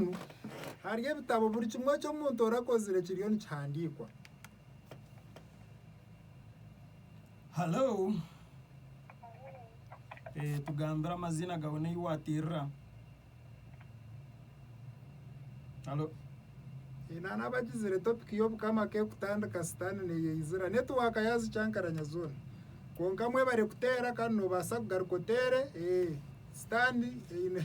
Bwenu, hariho ebitabo buri kimwe eki omuntu orakozire kiriyo nikihandiikwa. Halo. Eh, tugambire amaziina gawe n'ei waatirira. Halo. Ina n'abagizire topiki y'obukama k'ekutandika sitaani neyeizira netiwaaka yaazikyankaranya zoona. Kwonka mwebare kuteera kandi noobaasa kugaruka oteere, ee, sitaani eine.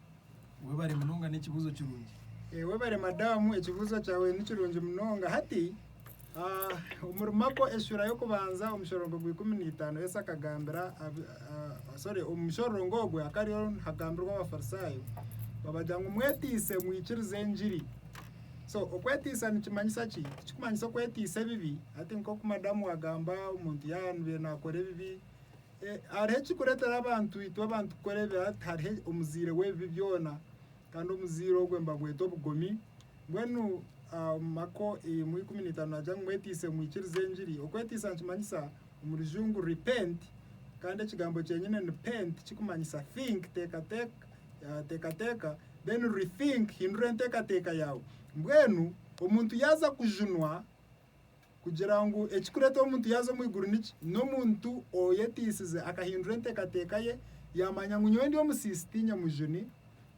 Webare munonga n'ekibuuzo kirungi. Webare madamu ekibuzo kyawe nikirungi munonga hati omuri mako esura y'okubanza omushororongo gwa ikumi n'itaano Yesu akagambira sorry omushororongo ogwe akariyo nihagambirwa abafarisayo babagira ngu mwetiise mwikirize engiri so okwetiisa nikimanyisa ki tikikumanyisa okwetiisa ebibi hati nkoku madamu wagamba omuntu yanubire nakora ebibi E Hariho ekirikureetera abantu itwe abantu kukora ebibi hati, hariho omuzaire w'ebibi byona, kandi omuzaire ogwo nibagweta obugomi. Mbwenu ah, omu Mako emwe ikumi n'itaano naagira ngu mwetiise mwikirize engiri. Okwetiisa nikimanyisa omu rujungu repent, kandi ekigambo kyenyine ni pent kikumanyisa think, teekateeka, ah, teekateeka, then rethink, hindura enteekateeka yaawe. Mbwenu omuntu yaaza kujunwa, Kugira ngu ekirikureeta omuntu yaaza omu iguru niki? N'omuntu oyeteisize akahindura enteekateeka ye, yaamanya ngu nyowe ndi omusiisi ti nyamujuni,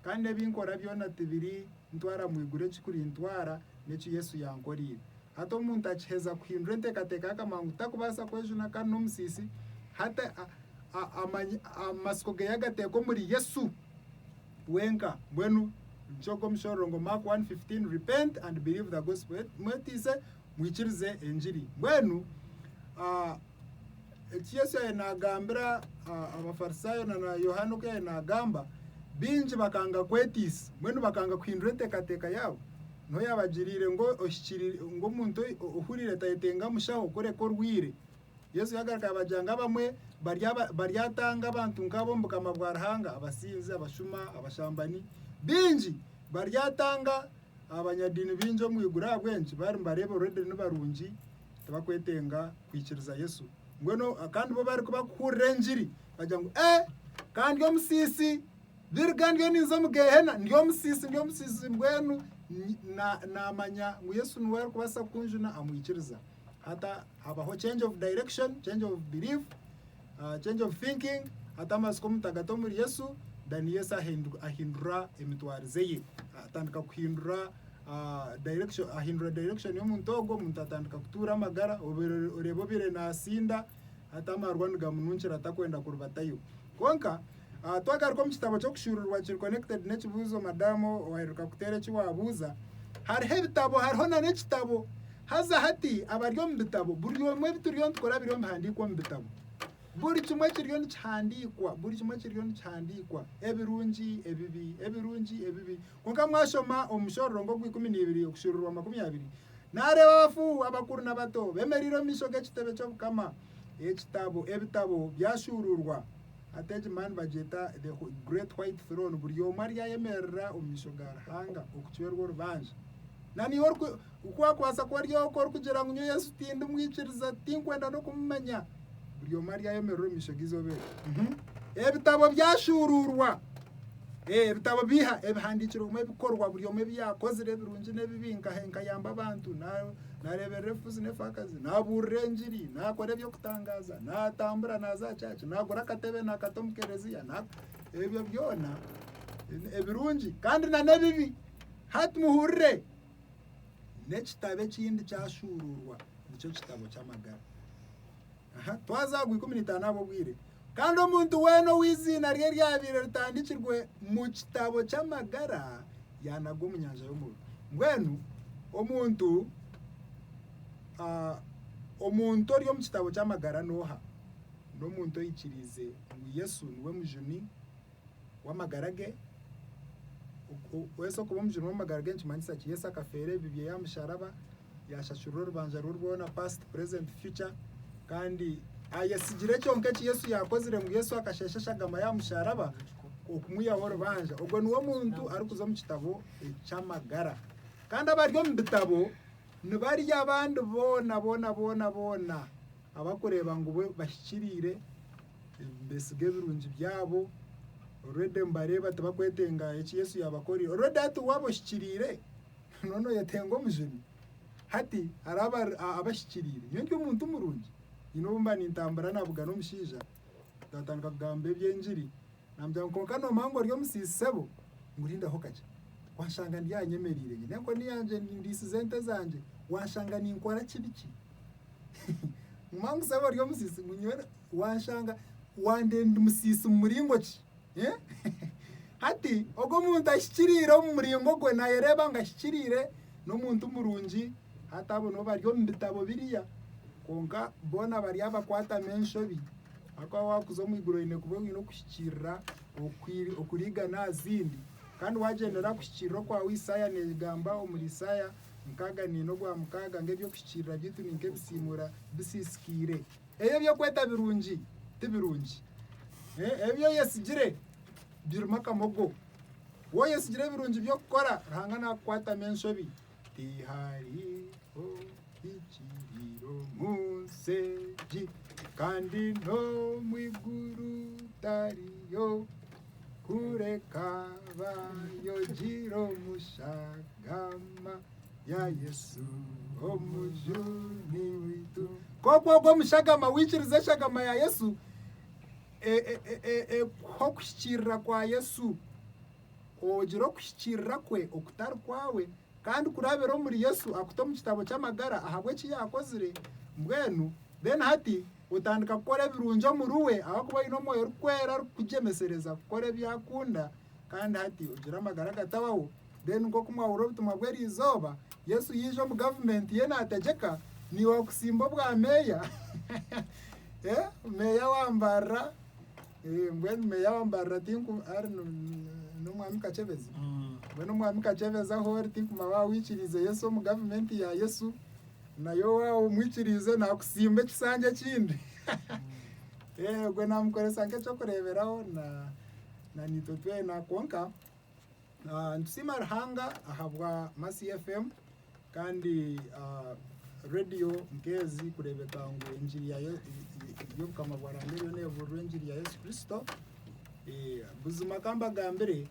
kandi ebi nkora byona tibirintwara mu iguru, ekirikurintwara n'eki Yesu yankoreire. Hati omuntu akiheza kuhindura enteekateeka ye akamanya ngu tarikubaasa kwejuna kandi n'omusiisi, hati amatsiko ge yagateeka omuri Yesu. wenka mbwenu nikyo ogu omushororongo Mark 1:15 repent and believe the gospel mwetiise mwikirize engiri mbwenu ah, eki Yesu yaye nagambira ah, abafarisayo na na Yohana oku yaye nagamba bingi bakanga kwetiisa mbwenu bakanga kuhindura enteekateeka yaabo niho yabagiriire ngu ohikirire ngu omuntu ohurire tayetenga mushaho kureka orwire Yesu yagaruka yabagira ngu abamwe baryatanga abantu nk'abo omu bukama bwa Ruhanga, abasinzi, abashuma, abashambani. Baingi baryatanga abanyadiini baingi omu iguru ahabw'enki? Bari nibareeba oruredi nibarungi tibakwetenga kwikiriza Yesu. Mbwenu kandi bo barikuba kuhurira engiri bagira ngu, Ee, kandi omusiisi! Biriga ndiyo ninza omu Geehena, ndi omusiisi, ndi omusiisi, mbwenu naamanya ngu Yesu niwe arikubaasa kukunjuna amwikiriza. Hata habaho change of direction, change of belief, uh, change of thinking, hata amasiko omutagata omuri Yesu, then Yesu ahindura emitwarize ye, atandika kuhindura uh, direction, ahindura direction y'omuntu ogwo, omuntu atandika kutuura amagara, oreeba obeire naasinda, Hati amarwa nigamununkira atakwenda kuribatayo. Kwonka, twagaruka omu kitabo ky'okushuuruurwa kiri connected n'ekibuuzo madamu owaaheruka kuteera eki waabuuza, hariho ebitabo hariho na n'ekitabo. Haza hati abari omu bitabo, buri omwe ebi turiyo nitukora biriyo nibihandiikwa omu bitabo. Buri kimwe kiriyo nikihandiikwa, buri kimwe kiriyo nikihandiikwa, ebirungi, ebibi, ebirungi, ebibi. Kwonka mwashoma omu Mushororongo ogw'ikumi na ibiri okushuurirwa makumi abiri, naareeba abafuuhu, abakuru n'abato, beemereire omu maisho g'ekitebe ky'obukama, ekitabo, ebitabo byashuuruurwa, hati egi mani bagyeta the Great White Throne, buri omwe aryayemerera omu maisho ga Ruhanga, okucwerwa orubanja, na niiwe ori. Ku waakubaasa kuba ori oku orikugira ngu nyowe Yesu tindi mwikiriza, tinkwenda n'okumumanya, buri omwe aryayemerera omu maisho g'eizooba eryo. Ebitabo byashuuruurwa. Ebitabo biha? Ebihandiikirwemu ebikorwa buri omwe ebi yaakozire ebirungi n'ebibi, nkayamba abantu, naareeberera ebifuzi n'efaakazi, naabuurira engiri, naakora eby'okutangaaza, naatambura naaza aha kyaaci, naagura akatebe naakata omu kereziya, ebyo byona ebirungi kandi n'ebibi. Hati muhurire! N'ekitabo ekindi kyashuuruurwa, nikyo kitabo ky'amagara. Aha, twaza aha gw'ikumi na itaano ahabw'obwire. Kandi omuntu weena ou eiziina rye ryabaire ritandikirwe mu kitabo ky'amagara yaanagwa omu nyanja y'omuriro. Mbwenu omuntu ah, omuntu ori omu kitabo ky'amagara n'oha? N'omuntu oikiriize ngu Yesu niwe mujuni w'amagara ge. Yesu okuba omujuni w'amagara ge nikimanyisa ki? Yesu akafeera ebibi byeye aha musharaba, yashashurura orubanja rwe rwona, past, present, future, kandi ayesigire kyonka eki Yesu yakozire ngu Yesu akashesha eshagama y'aha musharaba okumwihaho orubanja. Ogwo niwe muntu arikuza omu kitabo eky'amagara. Kandi abari omu bitabo nibari abandi boona boona boona boona abarikureeba ngu bo bahikiriire. Beesiga ebirungi byabo. Already nibareeba tibakwetenga eki Yesu yaabakorire. Already hati waaba ohikiriire, noona oyetenga omujuni. Hati hariho abahikiriire. Nyowe ndi omuntu murungi. Nyine obu mba nintambura nabugana omushaija, twatandika kugamba eby'engiri, Naamugambira ngu, Kwonka noomanya ngu ori omusiisi sebo? Ngu, Rindaho kakye. Waashanga ndi aha nyemereire nyine enkoni yangye ndiisize ente zangye, waashanga ninkora ki biki? Nguma ngu, Sebo ori omusiisi? Ngu, Nyowe waashanga wandenda ndi musiisi mu muringo ki? Hati ogwo omuntu ahikiriire omu muringo gwe naayereeba ngu ahikiriire, n'omuntu murungi, hati abo nibo bari omu bitabo biriya. Kwonka boona bari abakwatami enshobi. Ahakuba waakuza omu iguru oine kuba oine okuhikiirira okurigana aha zindi. Kandi waagyendera aha kuhikiirira okwawe. Isaaya neegamba omuri Isaaya nkaaga neina ogwa mukaaga ngu eby'okuhikiirira byaitu ni nk'ebisiimura bisiisikaire. Ebi eby'okweta birungi ti birungi. Ebi ebi oyetsigire birimu akamogo. Wooyetsigire ebirungi by'okukora, Ruhanga naakukwatamu enshobi. Tihariho ekiriira omu nsi egi, kandi n'omu iguru tariyo, kureka baayogire omu shagama ya Yesu omujuni waitu. Nk'oku ogwo omushagama waikiriza eshagama ya Yesu, e- e- e- e- ekuha okuhikiirira kwa Yesu. Ogira okuhikiirira kwe okutari kwawe, kandi kurabira omuri Yesu akuta omu kitabo ky'amagara ahabw'eki yaakozire, mbwenu then hati otandika kukora ebirungi omuri we ahakuba oine omwoyo orikwera arikukugyemesereza kukora ebi akunda kandi hati ogira amagara agatabaho. Then nk'oku mwahurira obutumwa bw'eriizooba, Yesu yaija omu gavumenti ye naategyeka, niiwe akusimba obwa meeya, meeya wa mbarira. Mbwenu meeya wa Mbarara tinku ari n'omwami Kakyebezi? Mbwenu omwami Kakyebezi ahu ori tinku mawe waawe oikiriize Yesu omu gavumenti ya Yesu, naye owaawe omwikiriize naakusimba ekisanja ekindi. Eeh, ogwo naamukoresa nk'eky'okureeberaho na, na niitwe twena. Kwonka. Ah, nitusiima Ruhanga ahabwa Masi FM kandi ah, radio nk'ezi kureebeka ngu enjiri ya Ye- y'obukama bwa Ruhanga eriyo neebuurira enjiri ya Yesu Kristo. Eh, buzima ka mbagambire,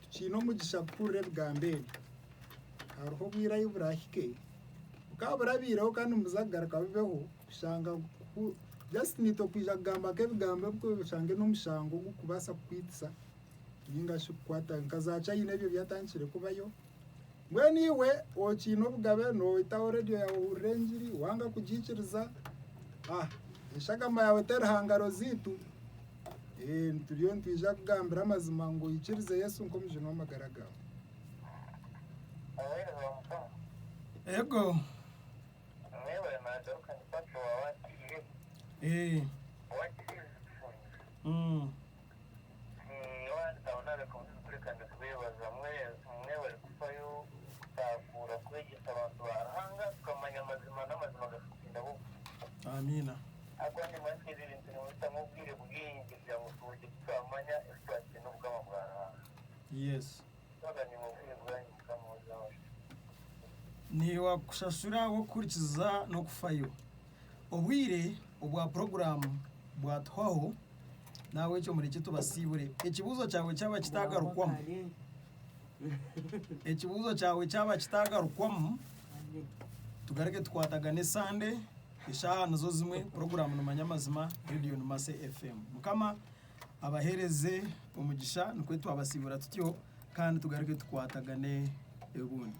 tukiine omugisha kuhurira ebigambo ebi. Hariho obwire ahi burahike, bukaba burabaireho kandi nibuza kugaruka bubeho, kushanga ku- just niitwe kwija kugamba nk'ebigambo ebi oshange n'omushango ogurikubaasa kukwitisa. Ninga shi kukwata nka za China ebyo byatandikire kubayo. Mbwenu iwe okiine obugabe noitaho radiyo yawe ohurire engiri wanga kugiikiriza ah, eshagama yawe teri hangaro ziitu eh, nituriyo nitwija kugambira amazima ngu oikirize Yesu nk'omujuni w'amagara gawe. Oweereza Mukama. Ego. Mwebare naagaruka ni Patro wa Wakirire. Eh. Wakirire. Mm. Amiina. Yesu. Naiwe akushashure ahabw'okuhurikiza n'okufayo. Obwire obwa puroguraamu bwatuhwaho, n'ahabw'ekyo murekye tubasiibure. Ekibuuzo kyawe kyaba kitaagarukwamu, ekibuuzo kyawe kyaba kitaagarukwamu, tugaruke tukwatagane Sande, eshaaha nizo zimwe, puroguraamu ni Manya Amazima, reediyo ni Mercy FM. Mukama abaheereze omugisha, nikwo twabasiibura tutyo, kandi tugaruke tukwatagane obundi.